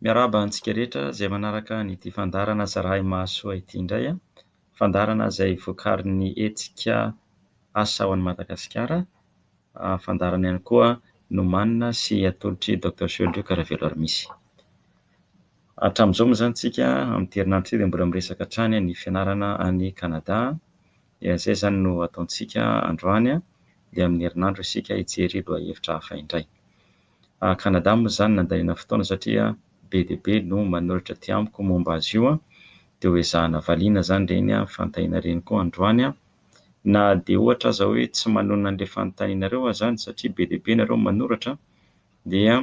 Miarahaba antsika rehetra izay manaraka an'ity fandaharana zara'imahasoa ity indray. Fandaharana izay vokarin'ny hetsika asa ho an'i Madagasikara. Fandaharana ihany koa nomanina sy atolotr'i Doctor Sohelotrioka Raveloarimisy. Hatramin'izao moa izany isika amin'ity herinandro ity dia mbola miresaka hatrany ny fianarana any Kanada. Dia izay izany no ataontsika androany dia amin'ny herinandro isika hijery lohahevitra hafa indray. A Canada moa izany nandaniana fotoana satria be dia be no manoratra aty amiko momba azy io dia ho ezahina valiana izany ireny fanontaniana ireny koa androany na dia ohatra aza hoe tsy manonona an'ilay fanontanianareo aza any satria be dia be nareo no manoratra dia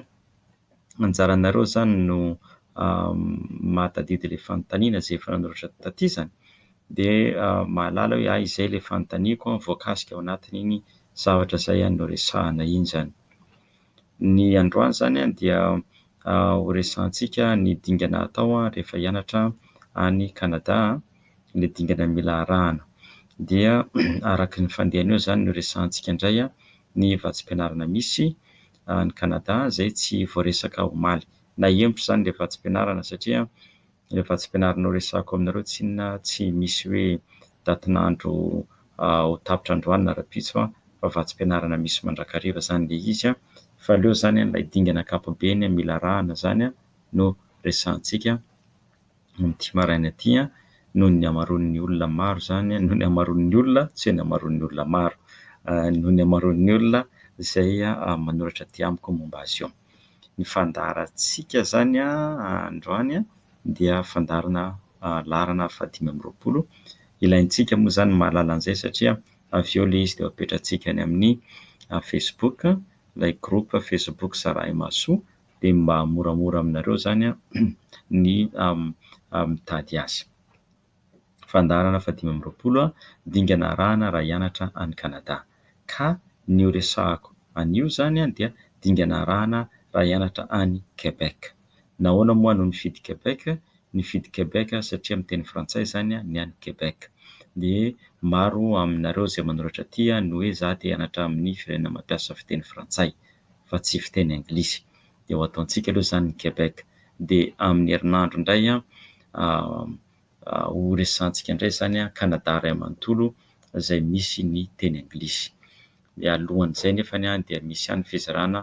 anjaranareo izany no mahatadidy ilay fanontaniana izay efa nanoratra taty izany dia mahalala hoe a izay ilay fanontaniako voakasika ao anatin'iny zavatra izay noresahina iny izany. Ny androany izany dia ho resahantsika ny dingana atao rehefa hianatra any Canada, ilay dingana mila arahana. Dia araka ny fandehany eo izany no resahantsika indray ny vatsim-pianarana misy any Canada izay tsy voaresaka omaly. Naha-henoko izany ilay vatsim-pianarana satria... Ilay vatsim-pianaranao resahako aminareo tsy inona tsy misy hoe datin'andro ho tapitra androany na rahampitso an, fa vatsim-pianarana misy mandrakariva izany ilay izy an, fa aleo izany an ilay dingana ankapobeny mila arahana izany an no resahantsika amin'ity maraina ity an, noho ny hamaroan'ny olona maro izany, noho ny hamaroan'ny olona, tsy hoe ny hamaroan'ny olona maro, noho ny hamaroan'ny olona izay manoratra aty amiko momba azy io. Ny fandaharantsika izany androany dia fandaharana laharana fahadimy amby roapolo. Ilaintsika moa izany ny mahalala an'izay satria avy eo ilay izy dia apetrantsika any amin'ny Facebook, ilay groupe Facebook Zarahimahasoa, dia mba moramora aminareo izany ny mitady azy. Fandaharana fahadimy amby roapolo, Dingana arahana raha hianatra any Canada. Ka ny horesahako anio izany dia dingana arahana raha hianatra any Québec. Nahoana moa no nifidy Québec? Nifidy Québec aho satria miteny frantsay izany ny any Québec. Dia maro aminareo izay manoratra aty no hoe izaho te hianatra amin'ny firenena mampiasa fiteny frantsay fa tsy fiteny anglisy. Dia ho ataontsika aloha izany ny Québec. dia amin'ny herinandro indray ho resahantsika indray izany Canada iray manontolo izay misy ny teny anglisy. Mialohan'izay nefa dia misy ihany ny fizarana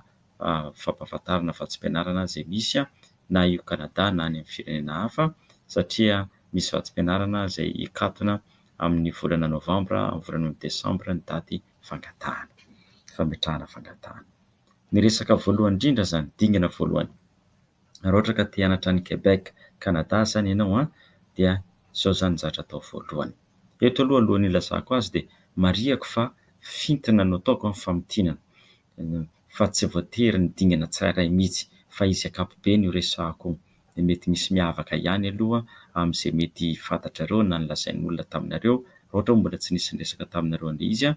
fampahafantarana fa tsy fianarana izay misy na io Canada na any amin'ny firenena hafa satria misy vatsim-pianarana izay hikatona amin'ny volana novambra amin'ny volana desambra ny daty fangatahana, fametrahana fangatahana. Ny resaka voalohany indrindra izany dingana voalohany. Raha ohatra ka te hianatra any Québec, Canada izany ianao an, dia izao izany no zatra atao voalohany. Eto aloha alohan'ny hilazako azy dia marihako fa fintina no ataoko ny famintinana, fa tsy voatery ny dingana tsirairay mihitsy, fa izy ankapobeny io resahako io. Dia mety misy miavaka ihany aloha amin'izay mety fantatrareo na nolazain'olona taminareo, raha ohatra hoe mbola tsy nisy niresaka taminareo an'ilay izy an,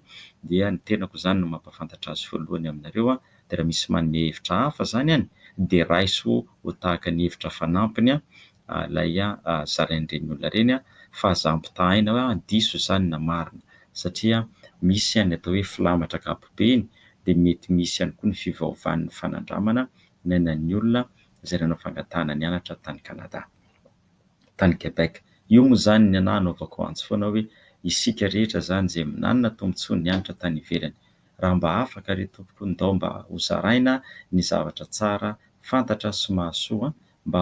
dia ny tenako izany no mampahafantatra azy voalohany aminareo an, dia raha misy manome hevitra hafa izany any dia raiso ho tahaka ny hevitra fanampiny ilay zarain'ireny olona ireny fa aza ampitahaina hoe diso izany na marina satria misy ihany ny atao hoe filamatra ankapobeny dia mety misy ihany koa ny fivaovan'ny fanandramana niainan'ny olona izay nanao fangatahana nianatra tany Canada tany Quebec io moa izany ny anah hanaovako antso foana hoe isika rehetra izany izay nanana tombotsoa nianatra tany ivelany raha mba afaka re tompoko ndao mba ho zaraina ny zavatra tsara fantatra sy mahasoa mba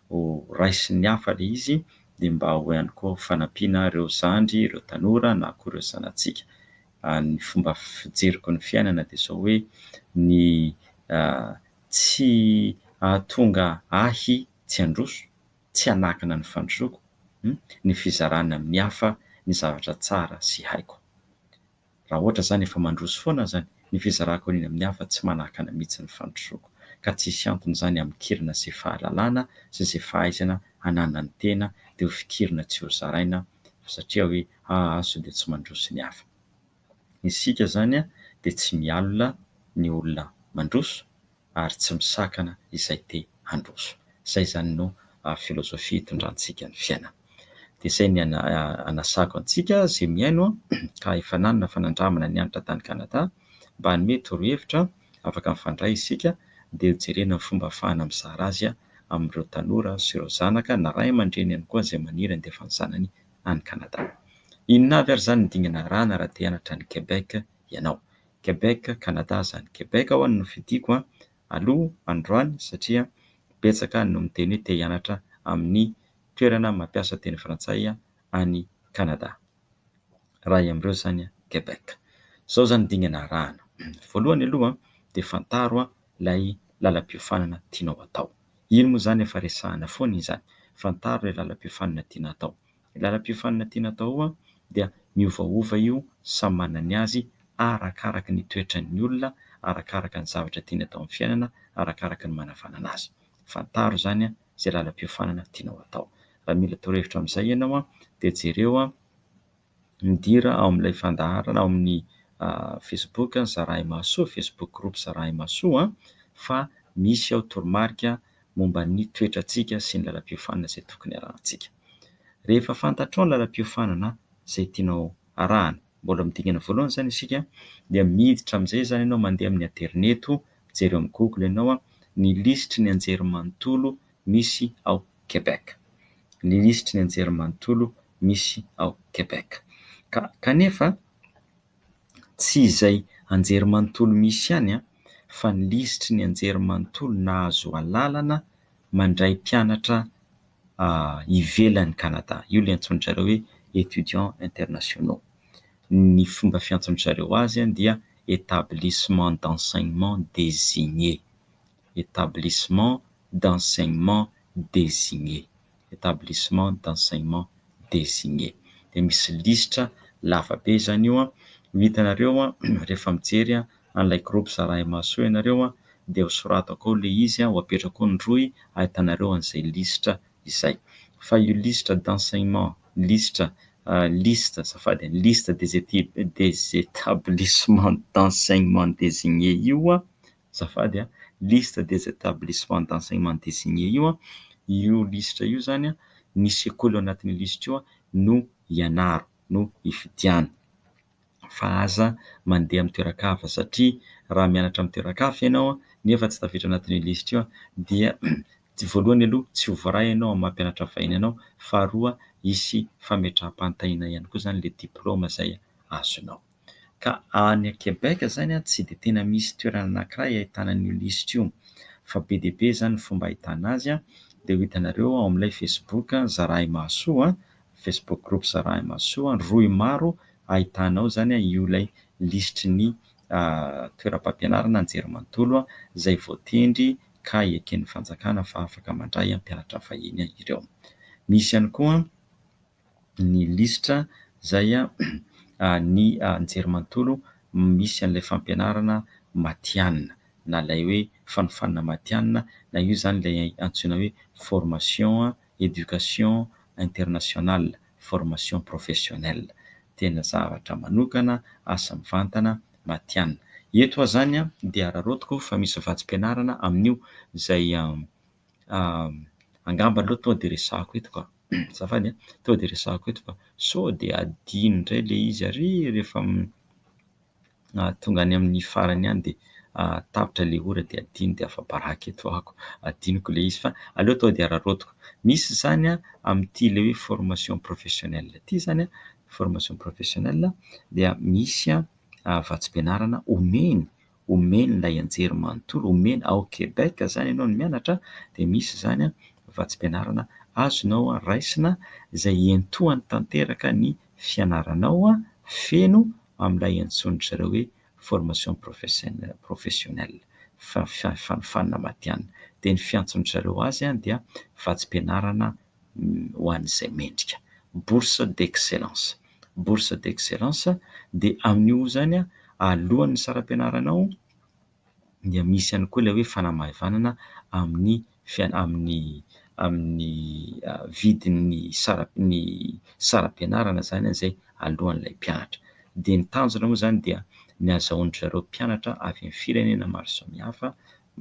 ho raisin'ny hafa le izy de mba ho ihany koa ho fanampiana reo zandry reo tanora na koa reo zanatsika ny fomba fijeriko ny fiainana de zao hoe ny tsy ahatonga ahy tsy handroso tsy hanakina ny fandrosoko ny fizarana amin'ny hafa ny zavatra tsara sy haiko Raha ohatra izany efa mandroso foana azany ny fizarako an'iny amin'ny hafa tsy manakana mihitsy ny fandrosoako ka tsisy antony izany amikirina izay fahalalana sy izay fahaizana ananan'ny tena dia ho fikirina tsy ho zaraina fa satria hoe ahaso dia tsy mandroso ny hafa isika izany dia tsy mialona ny olona mandroso ary tsy misakana izay te handroso. Izay izany no filozofia itondrantsika ny fiainana. Dia izay ny anasako antsika izay mihaino ka efa nanana fanandramana ny hianatra tany Canada mba hanome torohevitra afaka mifandray isika dia ho jerena ny fomba afahana mizara azy amin'ireo tanora sy ireo zanaka na ray aman-dreny ihany koa izay maniry handefa ny zanany any Canada. Inona avy ary izany ny dingana arahana raha te hianatra any Quebec ianao? Quebec Canada zany Quebec ho'a no fidiko a aloha androany satria betsaka no miteny hoe te hianatra amin'ny toerana mampiasa teny frantsay any Canada iray amin'ireo zany Quebec zao zany dingana arahana voalohany aloha de fantaro a lay lalam-piofanana tianao atao iny moa zany efa resahana foana iny zany fantaro lay lalam-piofanana tiana atao Ny lalam-piofanana tiana atao dia miovaova io, samy manana ny azy, arakaraka ny toetran'ny olona, arakaraka ny zavatra tiany atao amin'ny fiainana, arakaraka ny manavanana azy. Fantaro izany izay lalam-piofanana tianao atao. Raha mila torohevitra amin'izay ianao dia jereo, midira ao amin'ilay fandaharana ao amin'ny facebook Zarahimahasoa, facebook groupe Zarahimahasoa, fa misy ao toromarika momba ny toetrantsika sy ny lalam-piofanana izay tokony harahantsika. Rehefa fantatrao ny lalam-piofanana izay tianao harahana, mbola amin'ny dingana voalohany izany isika, dia miditra amin'izay izany ianao mandeha amin'ny aterineto, mijery eo amin'ny google ianao ny lisitry ny anjerimanontolo misy ao Québec. Ny lisitry ny anjerimanontolo misy ao Québec. Ka, kanefa, Tsy izay anjerimanontolo misy ihany fa ny lisitry ny anjerimanontolo nahazo alalana mandray mpianatra ivelan'i Canada. Io ilay antsoin-dry zareo hoe étudiants internationaux. Ny fomba fiantsoan-dry zareo azy dia établissement d'enseignement désigné. établissement d'enseignement désigné, établissement d'enseignement désigné. Dia misy lisitra lava be izany io, ho hitanareo rehefa mijery an'ilay groupe Zarahimahasoa ianareo dia ho soratako ao ilay izy, ho apetrako ao ny rohy ahitanareo an'izay lisitra izay. Fa io lisitra d'enseignement, lisitra, liste, azafady, liste des établissements d'enseignement désigné io, azafady a, liste des établissements d'enseignement désigné io, io lisitra io izany ny sekoly ao anatin'io lisitra io no ianaro no ifidiano fa aza mandeha amin'ny toeran-kafa satria raha mianatra amin'ny toeran-kafa ianao nefa tsy tafiditra ao anatin'io lisitra io dia tsy voalohany aloha tsy ho voaray ianao amin'ny maha-mpianatra vahiny anao, faharoa hisy fametraham-panontaniana ihany koa izany ilay diplaoma izay azonao. ka any Quebec izany an tsy dia tena misy toerana anankiray ahitana an'io lisitra io fa be dia be izany ny fomba ahitana azy an, dia ho hitanareo ao amin'ilay facebook zarahimahasoa an, facebook group zarahimahasoa an, rohy maro ahitana ao izany an io ilay lisitry ny toeram-pampianarana anjerimanontolo an izay voatendry ka eken'ny fanjakana fa afaka mandray an mpianatra vahiny ireo, misy ihany koa an. ny lisitra izay ny anjerimanontolo misy an'ilay fampianarana matihanina na ilay hoe fanofanana matihanina na io izany ilay antsoina hoe formation éducation internationale, formation professionnelle. Tena zavatra manokana, asa mivantana, matihanina. Eto aho izany dia araraotiko fa misy vatsim-pianarana amin'io izay angamba aloha tonga dia resahako eto ka. Azafady a! Tonga dia resahako eto fa sao dia adino indray ilay izy ary rehefa tonga any amin'ny farany any dia tapitra ilay ora dia adino dia afa-baraka eto ako. Adinoko ilay izy fa aleo tonga dia araraotiko. Misy izany a, amin'ity ilay hoe formation professionnelle ity izany a, formation professionnelle dia misy a vatsim-pianarana omeny omeny ilay anjery manontolo omeny ao Québec izany ianao no mianatra dia misy izany vatsim-pianarana azonao raisina izay hiantohany tanteraka ny fianaranao feno amin'ilay antsoin-dry zareo hoe formation professionelle professionnelle fanofanana matihanina dia ny fiantsoan-dry zareo azy dia vatsim-pianarana ho an'izay mendrika. Bourse d'excellence. Bourse d'excellence dia amin'io izany alohan'ny saram-pianaranao dia misy ihany koa ilay hoe fanamaivanana amin'ny fian- amin'ny amin'ny vidin'ny sara- ny saram-pianarana izany izay alohan'ilay mpianatra. Dia ny tanjona moa izany dia ny ahazahoan-dry zareo mpianatra avy amin'ny firenena maro samihafa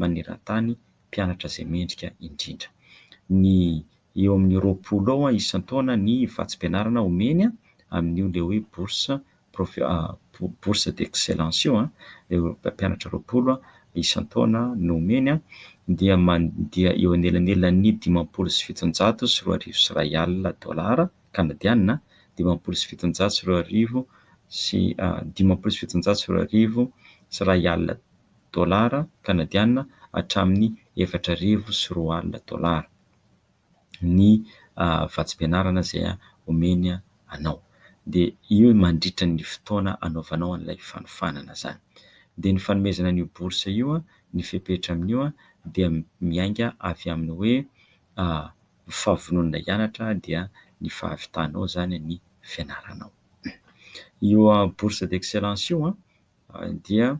maneran-tany mpianatra izay mendrika indrindra. Ny eo amin'ny roapolo eo isan-taona ny vatsim-pianarana omeny amin'io ilay hoe bourse bourse d'excellence io ireo mpianatra roapolo isan-taona no omeny dia mandeha eo anelanelan'ny dimampolo sy fitonjato sy roa arivo sy iray alina dolara kanadianina, dimampolo sy fitonjato sy roa arivo sy dimampolo sy fitonjato sy roa arivo sy iray alina dolara kanadianina hatramin'ny efatra arivo sy roa alina dolara ny vatsim-pianarana izay omeny anao dia io mandritra ny fotoana anaovanao an'ilay fanofanana izany. Dia ny fanomezana an'io bourse io, ny fepetra amin'io dia miainga avy amin'ny hoe ny fahavononana hianatra dia ny fahavitanao izany ny fianaranao. Io bourse d'excellence io. dia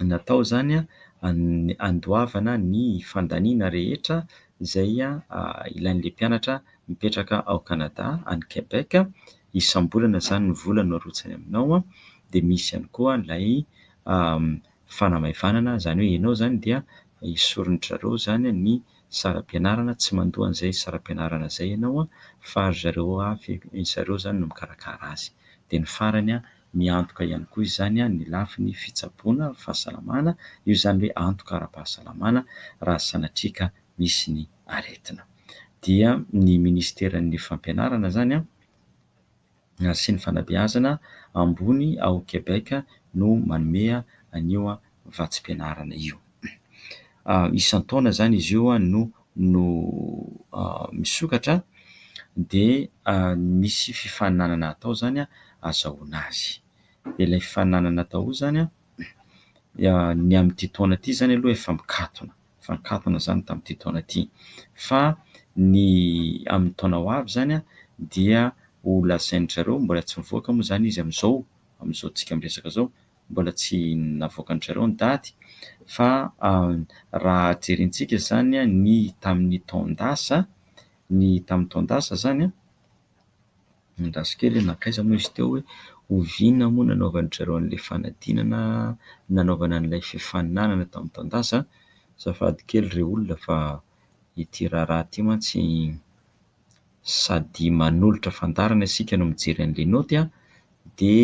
natao izany handoavana ny fandaniana rehetra izay ilain'ilay mpianatra mipetraka ao Canada, any Quebec. Isam-bolana izany ny vola no arotsany aminao. Dia misy ihany koa ilay fanamaivanana, izany hoe ianao izany dia esorin-dry zareo izany ny saram-pianarana, tsy mandoa an'izay saram-pianarana izay ianao fa ry zareo avy, ry zareo izany no mikarakara azy. Dia ny farany Miantoka ihany koa izany ny lafiny fitsaboana fahasalamana, io izany hoe antoka ara-pahasalamana raha sanatria ka misy ny aretina. Dia ny minisiteran'ny Fampianarana izany sy ny fanabeazana ambony ao Québec no manome an'io vatsim-pianarana io. Isan-taona izany izy io no no misokatra dia misy fifaninanana atao izany ahazahoana azy. Ilay fifaninanana atao io izany ny amin'ity taona ity izany aloha efa mikatona, efa nikatona izany tamin'ity taona ity fa ny amin'ny taona ho avy izany dia ho lazain-dry zareo, mbola tsy mivoaka moa izany izy amin'izao, amin'izao antsika miresaka izao. mbola tsy navoakan-dry zareo ny daty fa raha jerintsika izany ny tamin'ny taon-dasa, ny tamin'ny taon-dasa izany, andraso kely hoe nankaiza moa izy teo hoe oviana moa nanaovan-dry zareo an'ilay fanadinana nanaovana an'ilay fifaninanana tamin'ny taon-dasa? Azafady kely ry olona fa ity raharaha ity mantsy sady manolotra fandaharana isika no mijery an'le naoty a, de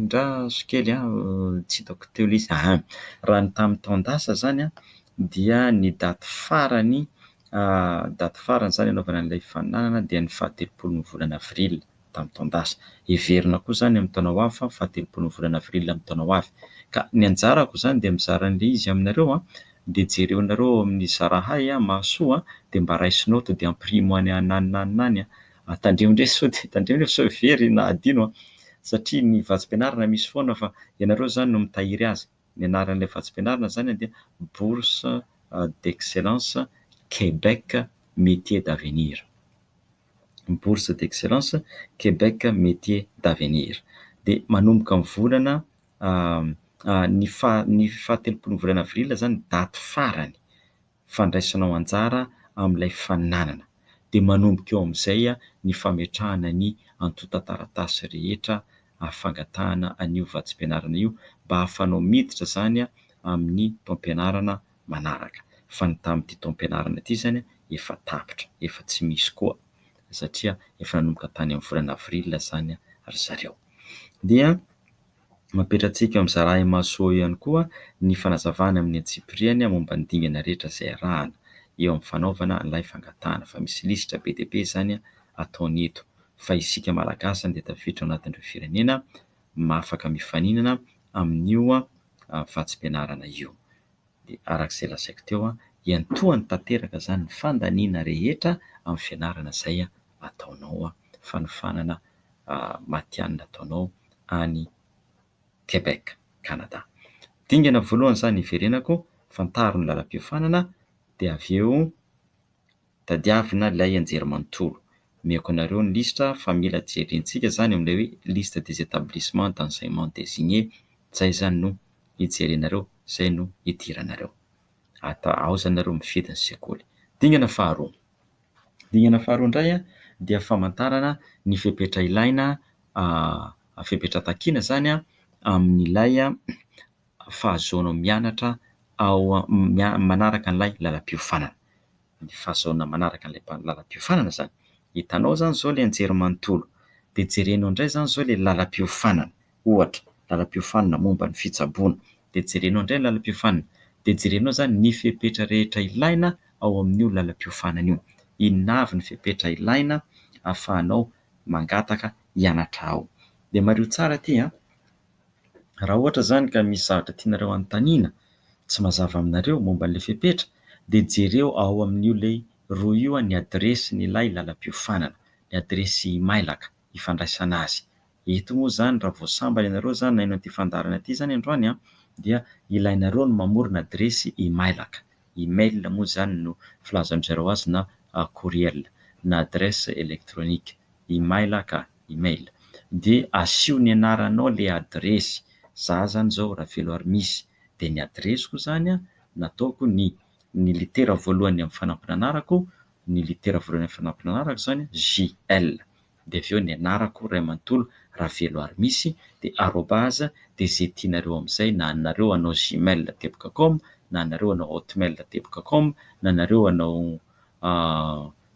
ndra zo kely a, tsy hitako teo le izy, aha, raha ny tamin'ny taon-dasa zany a, dia ny daty farany daty farany zany anaovana an'ilay fandaharana dia ny fahatelopolon'ny volana avril. tamin'ny taon-dasa. Heverina koa izany amin'ny taona ho avy fa fahatelopolon'ny volana avril amin'ny taona ho avy. Ka ny anjarako izany dia mizara an'ilay izy aminareo dia jereo nareo ao amin'ny Zarahay mahasoa dia mba raisina ao to dia ampirimo any anananana any a! Tandremo ndray sao dia tandremo ndray fa sao very na adino a! Satria ny vatsim-pianarana misy foana fa ianareo izany no mitahiry azy. Ny anaran'ilay vatsim-pianarana izany dia Bourse d'excellence Québec métiers d'avenir. ny bourse d'excellence Québec Métiers d'avenir. Dia manomboka ny volana ny faha- ny fahatelopolon'ny volana avril izany ny daty farany fandraisanao anjara amin'ilay fananana. Dia manomboka eo amin'izay ny fametrahana ny antontan-taratasy rehetra fangatahana an'io vatsim-pianarana io mba ahafahanao miditra izany amin'ny taom-pianarana manaraka fa ny tamin'ity taom-pianarana ity izany efa tapitra, efa tsy misy koa satria efa nanomboka tany amin'ny volana avril izany ry zareo. Dia mampietrantsika eo amin'ny Zarahi Mahasoa eo ihany koa ny fanazavana amin'ny antsipiriany momba ny dingana rehetra izay arahana eo amin'ny fanaovana an'ilay fangatahana fa misy lisitra be dia be izany ataony eto fa isika Malagasy izany dia tafiditra ao anatin'ireo firenena afaka mifaninana amin'io vatsim-pianarana io. Dia araka izay lazaiko teo, hiantohany tanteraka izany ny fandaniana rehetra amin'ny fianarana izay ataonao, fanofanana matihanina ataonao any Québec, Canada. Dingana voalohany izany hiverenako, fantaro ny lalam-piofanana, dia avy eo Tadiavina ilay anjery manontolo. Omeko anareo ny lisitra fa mila jerintsika izany amin'ilay hoe liste des établissements d'enseignement désignés, izay izany no hijerenareo, izay no hidiranareo. Ata ao izany nareo mifidy ny sekoly. Dingana faharoa. Dingana faharoa indray dia famantarana ny fepetra ilaina, fepetra takiana izany amin'ilay fahazoanao mianatra ao manaraka an'ilay lalam-piofanana. Ny fahazoana manaraka an'ilay lalam-piofanana izany. Hitanao izany izao ilay anjerimanontolo, dia jerenao indray izany izao ilay lalam-piofanana, ohatra, lalam-piofanana momba ny fitsaboana. Dia jerenao indray ny lalam-piofanana, dia jerenao izany ny fepetra rehetra ilaina ao amin'io lalam-piofanana io. Inona avy ny fepetra ilaina ahafahanao mangataka hianatra ao. Dia mariho tsara ity an! Raha ohatra izany ka misy zavatra tianareo hanontaniana tsy mazava aminareo momba an'ilay fepetra dia jereo ao amin'io lay rohy io ny adiresin'ilay lalam-piofanana, ny adiresy imailaka ifandraisana azy. Eto moa izany raha vao sambany ianareo izany naino an'ity fandaharana ity izany androany an, dia ilainareo ny mamorona adiresy imailaka, email moa izany no filazan-dry zareo azy na courriel, na adresse électronique imailaka. email de asio ny anaranao le adiresy, za zany zao Raveloarimisy de ny adiresiko zany a nataoko ny ny litera voalohany am fanampin'anarako, ny litera voalohany am fanampin'anarako zany JL de avy eo ny anarako ray manontolo Raveloarimisy de arobase de ze tianareo amzay na anareo hanao gmail teboka com na anareo hanao hotmail teboka com na anareo hanao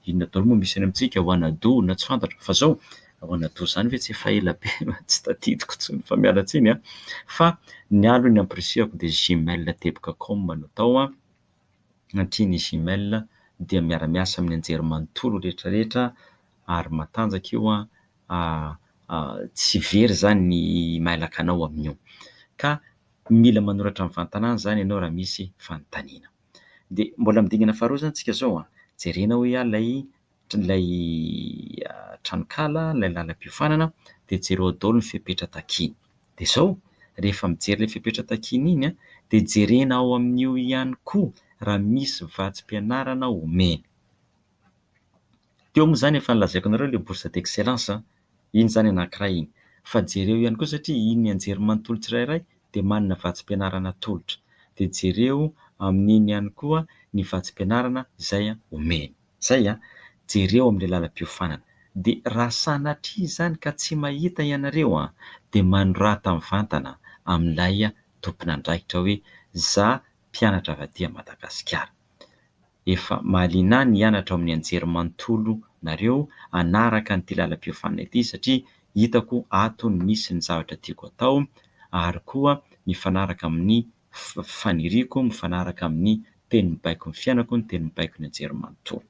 Inona daholo moa misy any amintsika ao Anado na tsy fantatra fa zao ao Anado zany ve tsy efa ela be fa tsy tadidiko tsony fa miala tsiny an! fa ny ahy aloha ny ampirisihako dia gmail teboka com no atao an! satria ny gmail dia miara miasa amin'ny anjery manontolo rehetra rehetra ary matanjaka io an! tsy very zany ny mailaka anao amin'io ka mila manoratra mivantana any zany ianao raha misy fanontaniana. Dia mbola amin'ny dingana faharoa izany isika izao an! Jerena hoy aho ilay ilay tranonkala, ilay lalam-piofanana, dia jereo daholo ny fepetra takiany. Dia izao, rehefa mijery ilay fepetra takiany iny an, dia jerena ao amin'io ihany koa raha misy vatsim-pianarana omeny. Teo moa izany efa nolazaiko anareo ilay bourse d'excellence an! iny izany anankiray iny. Fa jereo ihany koa satria iny ny anjerimanontolo tsirairay dia manana vatsim-pianarana atolotra. Dia jereo amin'iny ihany koa ny vatsim-pianarana izay omeny. Izay an! Jereo amin'ilay lalam-piofanana. Dia raha sanatria izany ka tsy mahita ianareo an! dia manorata mivantana amin'ilay tompon'andraikitra hoe za mpianatra avy aty Madagasikara. efa mahaliana ny hianatra ao amin'ny anjerimanontolo nareo hanaraka an'ity lalam-piofanana ity satria hitako ato ny misy ny zavatra tiako atao ary koa mifanaraka amin'ny faniriako, mifanaraka amin'ny teny mibaiko ny fiainako, ny teny mibaiko ny anjerimanontolo.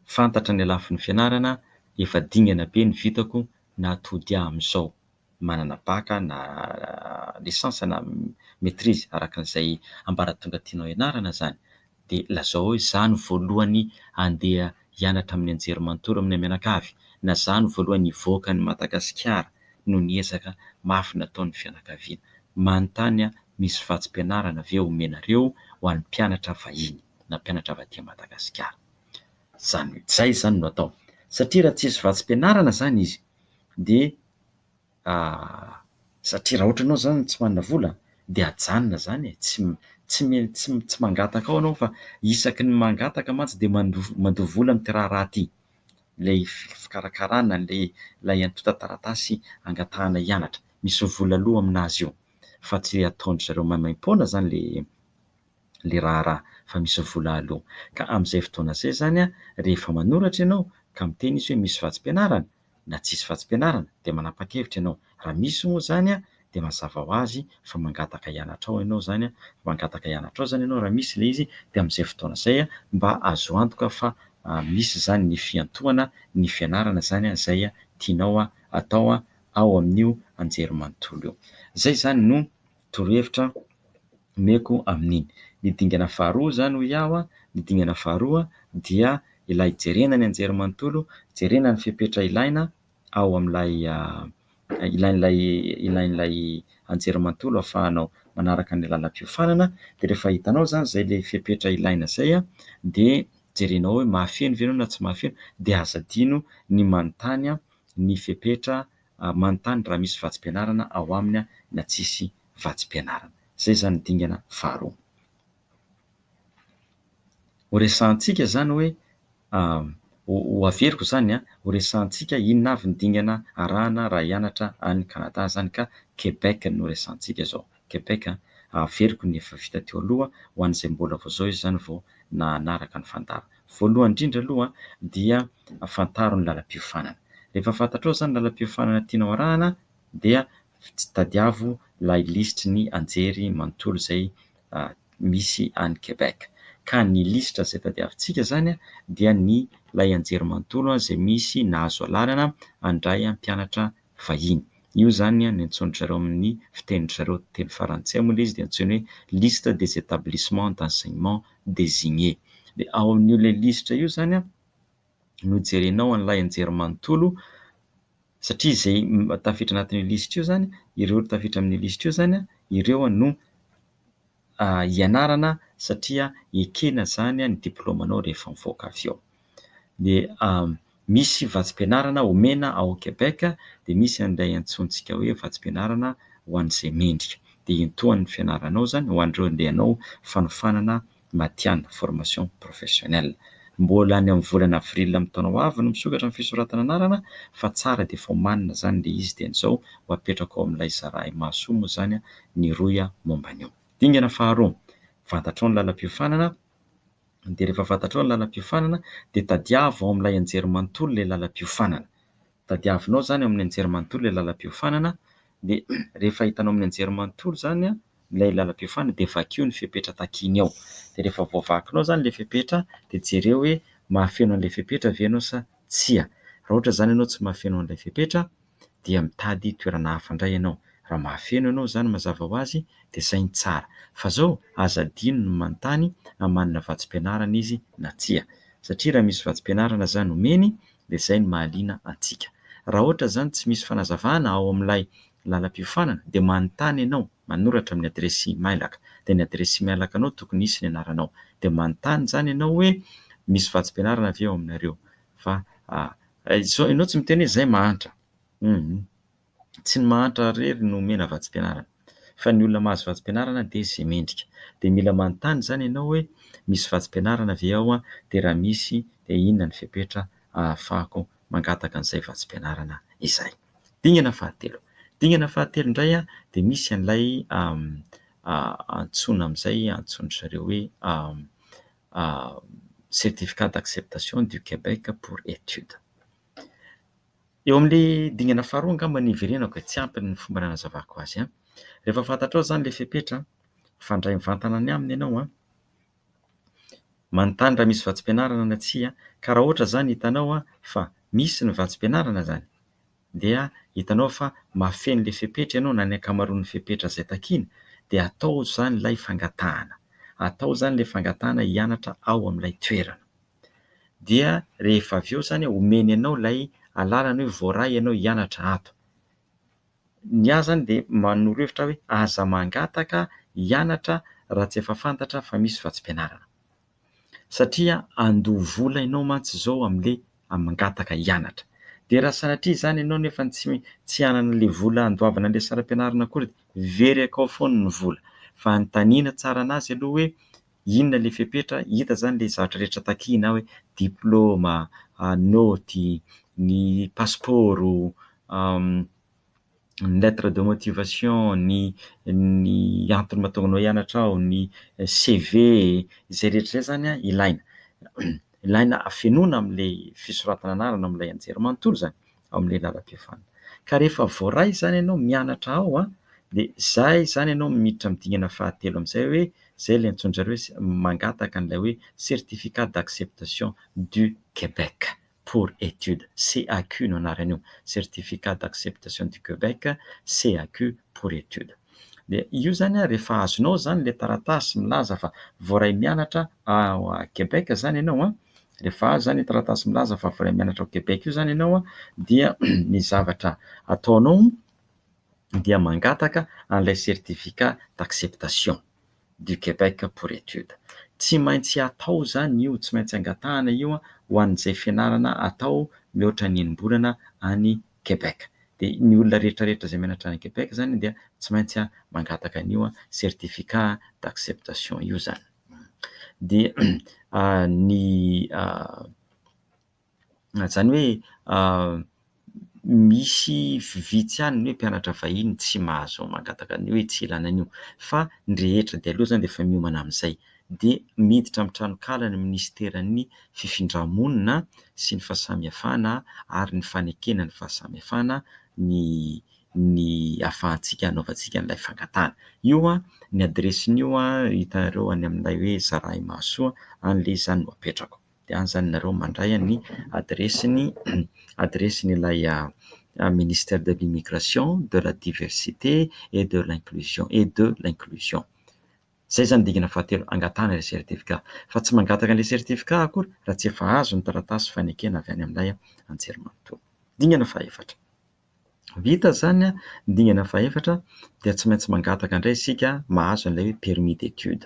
Fantatra ny lafiny fianarana, efa dingana be ny vitako na tody ahy amin'izao. manana bac na licence na maitrise araka izay ambaratonga tianao hianarana izany dia lazao hoe za no voalohany handeha hianatra amin'ny anjerimanontolo amina mianakavy na za no voalohany hivoaka an'i Madagasikara noho ny ezaka mafy nataon'ny fianakaviana. Manontany aho misy vatsim-pianarana ve omenareo ho an'ny mpianatra vahiny na mpianatra avy aty Madagasikara? Izany hoe. Izay izany no atao satria raha tsisy vatsim-pianarana izany izy dia satria raha ohatra ianao izany tsy manana vola dia ajanona izany e, tsy tsy mila tsy tsy mangataka ao ianao fa isaky ny mangataka mantsy dia mando- mandoa vola amin'ity raharaha ity, ilay fi- fikarakarana an'ilay ilay antontan-taratasy angatahana hianatra, misy vola aloa aminazy io fa tsy ataon-dry zareo maimaim-poana izany le. ilay raharaha fa misy vola aloha. Ka amin'izay fotoana izay izany rehefa manoratra ianao ka miteny izy hoe misy vatsim-pianarana na tsisy vatsim-pianarana dia manapa-kevitra ianao. Raha misy moa izany dia mazava ho azy fa mangataka hianatra ao ianao izany, mangataka hianatra ao izany ianao raha misy ilay izy dia amin'izay fotoana izay mba azo antoka fa misy izany ny fiantohana ny fianarana izany izay tianao atao ao amin'io anjerimanontolo io. Izay izany no torohevitra omeko amin'iny. Ny dingana faharoa izany hoy aho, ny dingana faharoa dia ilay jerena ny anjerimanontolo, jerena ny fepetra ilaina ao amin'ilay ilain'ilay ilain'ilay anjerimanontolo ahafahanao manaraka ny lalam-piofanana, dia rehefa hitanao izany izay ilay fepetra ilaina izay dia jerenao hoe mahafeno ve ianao na tsy mahafeno dia aza adino ny manontany ny fepetra ary manontany raha misy vatsim-pianarana ao aminy na tsisy vatsim-pianarana. Izay izany ny dingana faharoa. Ho resahantsika izany hoe, ho averiko izany, ho resahantsika inona avy ny dingana arahana raha hianatra any Canada izany ka Québec no resahantsika izao. Quebec a! Averiko ny efa vita teo aloha ho an'izay mbola vao izao izy izany vao nahanaraka ny fandaro. Voalohany indrindra aloha dia fantaro ny lalam-piofanana. Rehefa fantatrao izany lalam-piofanana tianao arahana dia tadiavo ilay lisitry ny anjery manontolo izay misy any Quebec. Ka ny lisitra izay tadiavintsika izany dia ny ilay anjery manontolo izay misy nahazo alalana handray mpianatra vahiny. Io izany no antsoin-dry zareo amin'ny fitenin-dry zareo teny farantsay moa ilay izy dia antsoina hoe liste des établissements d'enseignement désignés. Dia ao amin'io ilay lisitra io izany no jerenao an'ilay anjerimanontolo satria izay tafiditra anatin'io lisitra io izany, ireo tafiditra amin'io lisitra io izany ireo no hianarana satria ekena izany ny diplaomanao rehefa mivoaka avy eo. Dia misy vatsim-pianarana omena ao Québec dia misy an'ilay antsointsika hoe vatsim-pianarana ho an'izay mendrika. Dia iantohany ny fianaranao izany ho an'ireo andeha hanao fanofanana matihanina, formation professionnelle. Mbola any amin'ny volana avril amin'ny taona ho avy no misokatra ny fisoratana anarana fa tsara dia efa omanina izany ilay izy. Dian'izao ho apetrako ao amin'ilay zara imasoa moa izany ny rohy aho momba an'io. Dingana faharoa, fantatrao ny lalam-piofanana, dia rehefa fantatrao ny lalam-piofanana, dia tadiavo ao amin'ilay anjerimanontolo ilay lalam-piofanana. Tadiavinao izany ao amin'ny anjerimanontolo ilay lalam-piofanana, dia rehefa hitanao amin'ny anjerimanontolo izany ilay lalam-piofanana, dia vakio ny fepetra takiany ao. Dia rehefa voavakinao izany ilay fepetra, dia jereo hoe mahafeno an'ilay fepetra ve ianao sa tsia. Raha ohatra izany ianao tsy mahafeno an'ilay fepetra, dia mitady toerana hafa indray ianao. Raha mahafeno ianao izany mazava ho azy dia izay no tsara. Fa izao aza adino ny manontany a manana vatsim-pianarana izy na tsia. Satria raha misy vatsim-pianarana izany omeny dia izay no mahaliana antsika. Raha ohatra izany tsy misy fanazavana ao amin'ilay lalam-piofanana dia manontany ianao, manoratra amin'ny adiresy imailaka. Dia ny adiresy imailakanao tokony hisy ny anaranao. Dia manontany izany ianao hoe misy vatsim-pianarana ve ao aminareo. Fa izao ianao tsy miteny hoe izay mahantra. Humm. Tsy ny mahantra irery no omena vatsim-pianarana. Fa ny olona mahazo vatsim-pianarana dia izay mendrika. Dia mila manontany izany ianao hoe misy vatsim-pianarana ve ao dia raha misy dia inona ny fepetra ahafahako mangataka an'izay vatsim-pianarana izay. Dingana fahatelo. Dingana fahatelo indray dia misy an'ilay antsoina amin'izay antsoin-dry zareo hoe Certificat d'acceptation du Québec pour étude. Eo amin'ilay dingana faharoa angamba no hiverenako e, tsy ampy ny fomba nanazavako azy an! Rehefa fantatrao izany ilay fepetra, mifandray mivantana ny aminy ianao an! Manontany raha misy vatsim-pianarana na tsia ka raha ohatra izany hitanao fa misy ny vatsim-pianarana izany, dia hitanao fa mahafeno ilay fepetra ianao na ny ankamaroan'ny fepetra izay takiana dia atao izany ilay fangatahana, atao izany ilay fangatahana hianatra ao amin'ilay toerana. Dia rehefa avy eo izany omeny anao ilay alalana hoe voaray ianao hianatra ato. Ny ahy izany dia manoro hevitra ahy hoe aza mangataka hianatra raha tsy efa fantatra fa misy vatsim-pianarana. satria handoa vola ianao mantsy izao amin'ilay mangataka hianatra. Dia raha sanatria izany ianao nefa tsy hanana ilay vola handoavana ilay saram-pianarana akory dia very akao foana ny vola. Fa anontaniana tsara an'azy aloha hoe inona ilay fepetra, hita izany ilay zavatra rehetra takiana hoe diplaoma, naoty, ny pasipaoro. ny lettre de motivation, ny ny antony mahatonga anao hianatra ao, ny CV, izay rehetra izay zany a ilaina ilaina afenoina am'le fisoratana anarana am'lay anjerimanontolo zany ao am'le lalam-piofanana. Ka rehefa voaray zany ianao mianatra ao a de zay zany ianao miditra am'dingana fahatelo am'zay hoe zay le antsoin-dry zareo hoe mangataka an'lay hoe certificat d'acceptation du Québec. pour étude, CAQ no anaran'io, Certificat d'Acceptation du Québec, CAQ pour étude. Dia io izany an, rehefa azonao izany ilay taratasy milaza fa voaray mianatra ao Québec izany ianao an, rehefa azo izany io taratasy milaza fa voaray mianatra ao Québec io izany ianao an, dia ny zavatra ataonao dia mangataka an'ilay Certificat d'Acceptation. du Québec pour étude. Tsy maintsy atao izany io, tsy maintsy angatahana io ho an'izay fianarana atao mihoatra ny enim-bolana any Québec. Dia ny olona rehetra rehetra izay mianatra any Québec izany dia tsy maintsy mangataka an'io certificat d'acceptation io izany. Dia ny Izany hoe misy vitsy ihany ny hoe mpianatra vahiny tsy mahazo mangataka an'io hoe tsy ilana an'io fa ny rehetra dia aleo izany dia efa miomana amin'izay. Dia miditra amin'ny tranonkala ny minisiteran'ny fifindra-monina sy ny fahasamihafana ary ny fanekena ny fahasamihafana ny ny ahafahantsika hanaovantsika an'ilay fangatahana. Io ny adiresin'io hitanareo any amin'ilay hoe zarahimahasoa any ilay izany no apetrako. dia anzany nareo mandray an'ny adiresin'ny adiresin'ilay ministère de l'immigration, de la diversité et de l'inclusion et de l'inclusion. Izay izany ny dingana fahatelo, angatahana ilay certificat. Fa tsy mangataka an'ilay certificat akory raha tsy efa azo ny taratasy fanekena avy any amin'ilay anjerimanontolo. Dingana fahefatra. Vita izany ny dingana fahefatra dia tsy maintsy mangataka indray isika mahazo an'ilay hoe permis d'étude,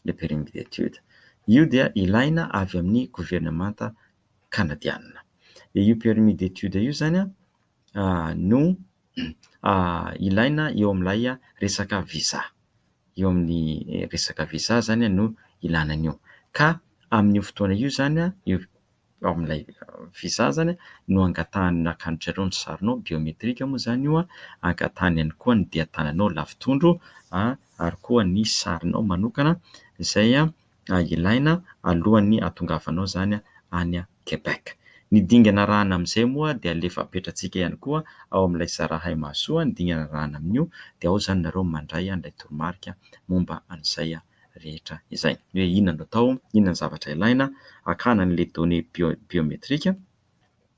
le permis d'étude. Io dia ilaina avy amin'ny governemanta kanadiana. Dia io permis d'étude io izany no ilaina eo amin'ilay resaka visa. Eo amin'ny resaka visa izany no ilana an'io. Ka amin'io fotoana io izany io... ao amin'ilay visa izany no angatahany nankanotra ireo ny sarinao, biometrika moa izany io, angatahany ihany koa ny dian-tananao lavi-tondro ary koa ny sarinao manokana izay ilaina alohan'ny hahatongavanao izany any Québec. Ny dingana arahana amin'izay moa dia alefa apetratsika ihany koa ao amin'ilay Sarahaimahasoa ny dingana arahana amin'io dia ao izany nareo mandray an'ilay toromarika momba an'izay rehetra izay. Ny hoe inona no atao, inona ny zavatra ilaina hakana an'ilay données bio- biométriques,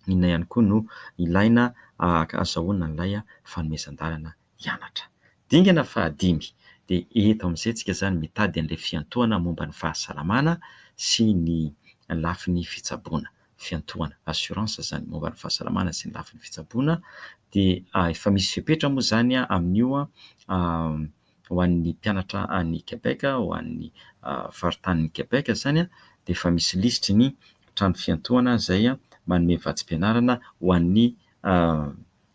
inona ihany koa no ilaina ahazahoana an'ilay fanomezan-dalana hianatra. Dingana fahadimy, dia eto amin'izay isika izany mitady an'ilay fiantohana momba ny fahasalamana sy ny lafiny fitsaboana. Fiantohana, assurance, izany momba ny fahasalamana sy ny lafiny fitsaboana, dia efa misy fepetra moa izany amin'io ho an'ny mpianatra any Québec, ho an'ny faritanin'i Québec izany, dia efa misy lisitry ny trano fiantohana izay manome vatsim-pianarana ho an'ny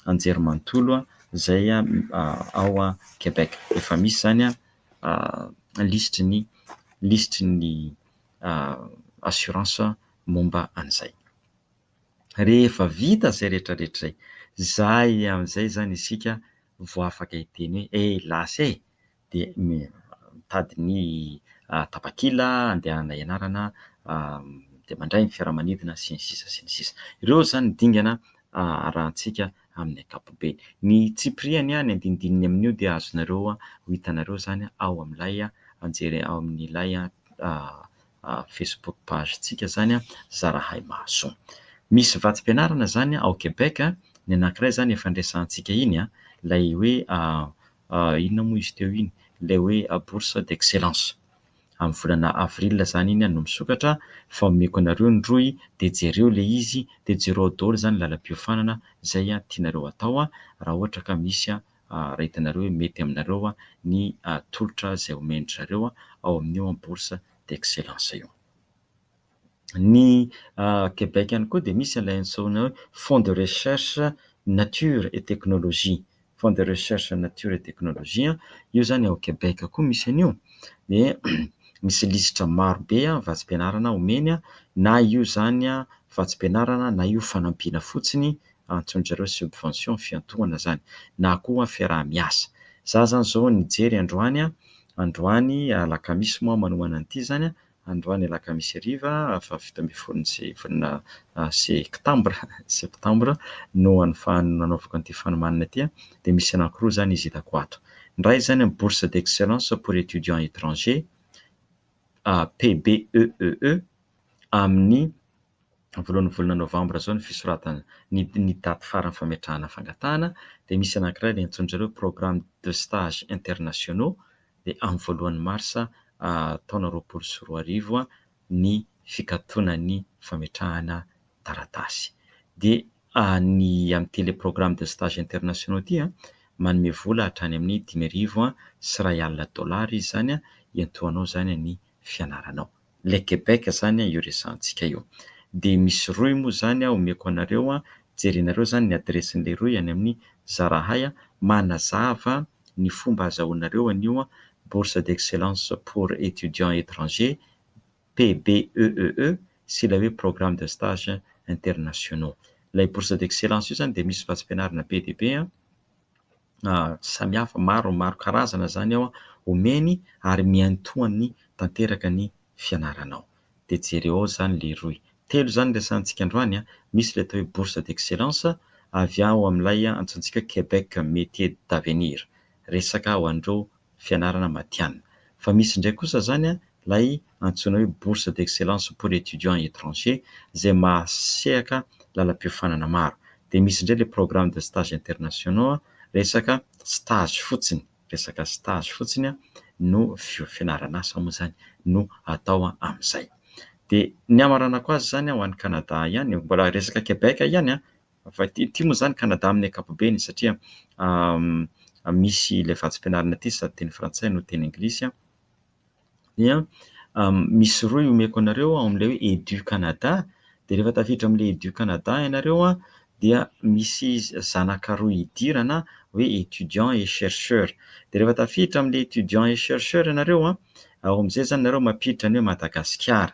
anjerimanontolo izay ao Québec. Efa misy izany lisitry ny lisitry ny assurance momba an'izay. Rehefa vita izay rehetra rehetra izay, izay amin'izay izany isika vao afaka hiteny hoe helas e! dia mitady ny tapakila andehanana ianarana dia mandray ny fiaramanidina sy ny sisa sy ny sisa. Ireo izany ny dingana arahantsika amin'ny ankapobeny. Ny tsipiriany, ny andinindininy amin'io dia azonareo ho hitanareo izany ao amin'ilay anjely ao amin'ilay Facebook page-ntsika izany Zarahay Mahasoa. Misy vatsim-pianarana izany ao Québec, ny anankiray izany efa niresahantsika iny, ilay hoe inona moa izy teo iny, ilay hoe bourse d'excellence. Amin'ny volana avril izany iny no misokatra fa omeko anareo ny rohy dia jereo ilay izy dia jereo ao daholo izany ny lalam-piofanana izay tianareo hatao raha ohatra ka misy aretinareo hoe mety aminareo ny tolotra izay omen-dry zareo ao amin'io bourse d'excellence io. Ny Québec ihany koa dia misy ilay antsoina hoe fonds de recherche nature et technologie, fonds de recherche nature et technologie, io izany ao Québec koa misy an'io dia misy lisitra maro be vatsim-pianarana omeny na io izany vatsim-pianarana na io fanampiana fotsiny antson dry zareo subvention fiantohana zany na koa fiaraha-miasa. Za zany zao nijery androany an, androany alakamisy moa manohana an'ity zany an, androany alakamisy hariva faha fito ambin'ny folo ny se volana sektambra, septembre, no anofan nanaovako an'ity fanomanana ity an, dia misy anankiroa zany izy hitako ato. Ny iray zany an bourse d'excellence pour étudiants étrangers, PBEEE, amin'ny voalohan'ny volana novambra izao ny fisoratana ny ny daty faran'ny fametrahana fangatahana dia misy anankiray ilay antsoin-dry zareo hoe programme de stage internationaux dia amin'ny voalohan'ny marsa taona roapolo sy roa arivo ny fikatonan'ny fametrahana taratasy dia ny amin'ity ilay programme de stage internationaux ity an manome vola hatrany amin'ny dimy arivo sy iray alina dolara izy izany hiantohanao izany ny fianaranao Le Québec izany io resahantsika io. Dia misy rohy moa izany omeko anareo, jerenareo izany ny adiresin'ilay rohy any amin'ny Zarahay manazava ny fomba azahoanareo an'io Bourse d'excellence pour étudiants étrangers, PBEEE, sy ilay hoe Programme de stage internationaux. Ilay Bourse d'excellence io izany dia misy vatsim-pianarana be dia be. samihafa maro maro karazana izany ao omeny ary miantoany tanteraka ny fianaranao dia jereo ao izany lehiroy telo izany resahantsika androany an misy ilay atao hoe bourse d'excellence avy ao amin'ilay antsointsika Québec métier d'avenir resaka ho an'ireo fianarana matihanina. Fa misy indray kosa izany ilay antsoina hoe bourse d'excellence pour étudiants étrangers izay mahasehaka lalam-piofanana maro. Dia misy indray ilay programmes de stages internationaux, resaka stage fotsiny, resaka stage fotsiny no fio- fianaran'asa moa izany no atao amin'izay. Dia ny hamaranako azy izany ho any Canada ihany, mbola resaka Québec ihany an! Fa ity ity moa izany Canada amin'ny ankapobeny satria misy ilay vatsim-pianarana ity sady teny frantsay no teny anglisy dia misy rohy omeko anareo ao amin'ilay hoe Edu Canada dia rehefa tafiditra amin'ilay Edu Canada ianareo dia misy zanaka rohy idirana hoe étudiants et chercheurs dia rehefa tafiditra amin'ilay étudiants et chercheurs ianareo ao amin'izay izany ianareo mampiditra ny hoe Madagasikara.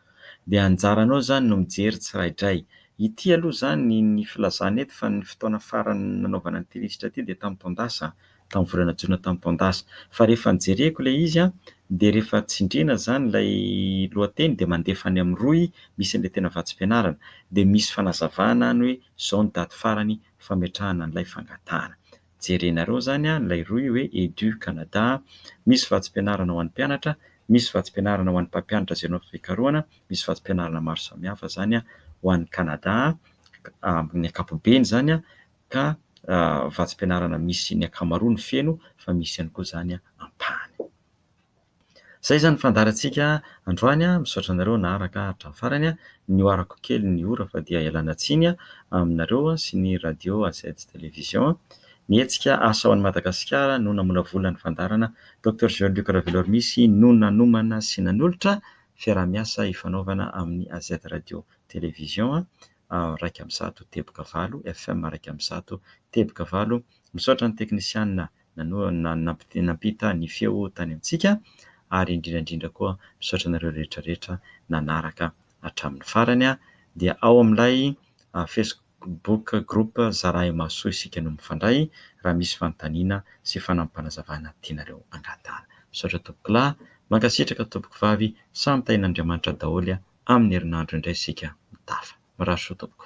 dia anjaranao izany no mijery tsiraidray. Ity aloha izany ny filazana eto fa ny fotoana farany nanaovana ity lisitra ity dia tamin'ny taon-dasa, tamin'ny volana jona tamin'ny taon-dasa. Fa rehefa nojereko ilay izy dia rehefa tsindriana izany ilay lohateny dia mandefa any amin'ny rohy misy an'ilay tena vatsim-pianarana dia misy fanazavana any hoe izao ny daty farany fametrahana an'ilay fangatahana. jerenareo zany a ilay rohy hoe edu Canada misy vatsim-pianarana ho an'ny mpianatra misy vatsim-pianarana ho an'ny mpampianatra izay nao fikarohana misy vatsim-pianarana maro samihafa zany a ho an'ny Canada amin'ny ankapobeny zany a ka vatsim-pianarana misy ny ankamaroany feno fa misy ihany koa zany a ampahany Izay izany fandaharantsika androany. Misaotra anareo naharaka hatramin'ny farany. Nihoarako kely ny ora fa dia ialana tsiny aminareo sy ny Radio Azets Télévision. Ny hetsika Asa ho an'i Madagasikara no namolavola ny fandaharana. Docteur Jean Luc Ravelormisy no nanomana sy nanolotra fiaraha-miasa hifanaovana amin'ny Azets Radio Télévision iraika amby zato teboka valo, FM iraika amby zato teboka valo. Misaotra ny teknisiana nampita ny feo tany amintsika ary indrindra indrindra koa misaotra anareo rehetra rehetra nanaraka hatramin'ny farany dia ao amin'ilay facebook group zarahy mahasoa isika no mifandray raha misy fanontaniana sy fanampanazavana tianareo angatahana misaotra tompokolahy mankasitraka tompokovavy samy tahin'Andriamanitra daholo amin'ny herinandro indray isika mitafa mirary soa tompoko.